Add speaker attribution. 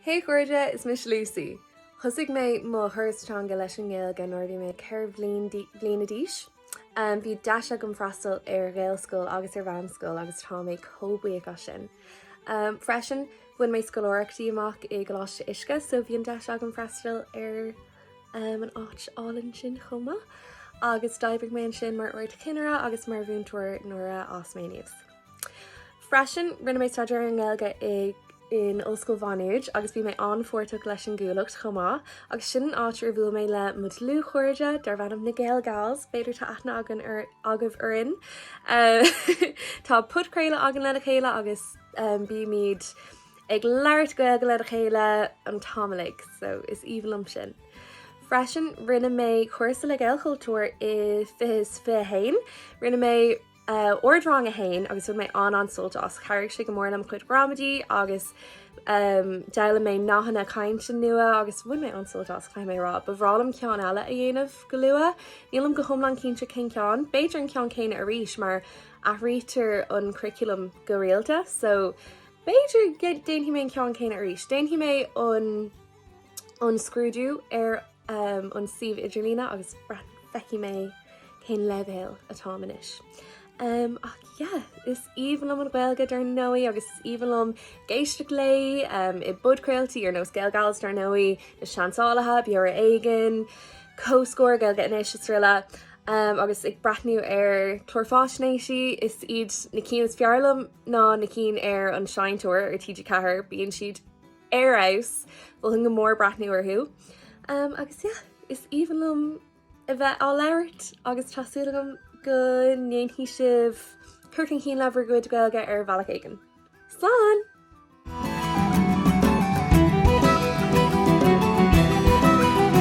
Speaker 1: Hey a chairde, is mise Lucy. Thosaigh mé mo thuras teanga leis an nGaeilge nuair a bhí mé ceithre bliana d'aois. Bhí deis agam freastal ar Ghaelscoil agus ar mheánscoil agus tá mé chomh buíoch as sin. Freisin, bhain mé scoláireachtaí amach i gColáiste Uisce so bhí an deis agam freastal ar an áit álainn sin chomh maith. Agus d'oibrigh mé ansin mar ardchinnire agus mar mhúinteoir nuair a fhás mé aníos. Freisin, rinne mé staidéar sa Ghaeilge in Ollscoil Mhá Nuad agus bhí mé an-pháirteach leis an gCuallacht chomh maith, agus sin an áit ar bhuail mé le mo dhlúthchairde darb ainm na Gael Gals, b'fhéidir tá aithne againn agaibh orainn. Tá podchraoladh againn lena chéile agus bímid ag labhairt Gaeilge lena chéile an t-am uilig, so is aoibhinn liom sin. Freisin, rinne mé cúrsa le Gaelchultúr i 2021. Rinne mé. ardrang a haon agus bhain mé an-an-sult as. Chabhraigh sé go mór le mo chuid ghramadaí agus d'fhoghlaim mé nathanna cainte nua agus bhain mé an-sult as, caithfidh mé a rá. Ba bhreá liom ceann eile a dhéanamh go luath. Nílim go hiomlán cinnte cén ceann, b'fhéidir an ceann céanna arís mar athraítear an curaclam go rialta so b'fhéidir go ndéanfaidh mé an ceann céanna arís. Déanfaidh mé an scrúdú ar an. an suíomh idirlín agus feicfidh mé cén leibhéal atáim anois. Ach yeah, is aoibhinn liom an Ghaeilge dar ndóigh agus is aoibhinn liom éisteacht léi i bpodchraoltaí ar nós Gael Gals dar ndóigh, Na Seansálaithe, Beo Ar Éigean, Comhscór, Gaeilge Anois srl. Agus ag breathnú ar chláir faisnéisí is iad na cinn is fearr liom ná na cinn ar an Seinnteoir ar TG4, bíonn siad ar fheabhas. Mholfainn go mór breathnú orthu agus yeah, is aoibhinn liom a bheith á labhairt agus tá súil agam go ndéanfaidh sibh cur chun cinn le bhur gcuid Gaeilge ar bhealach éigin. Slán!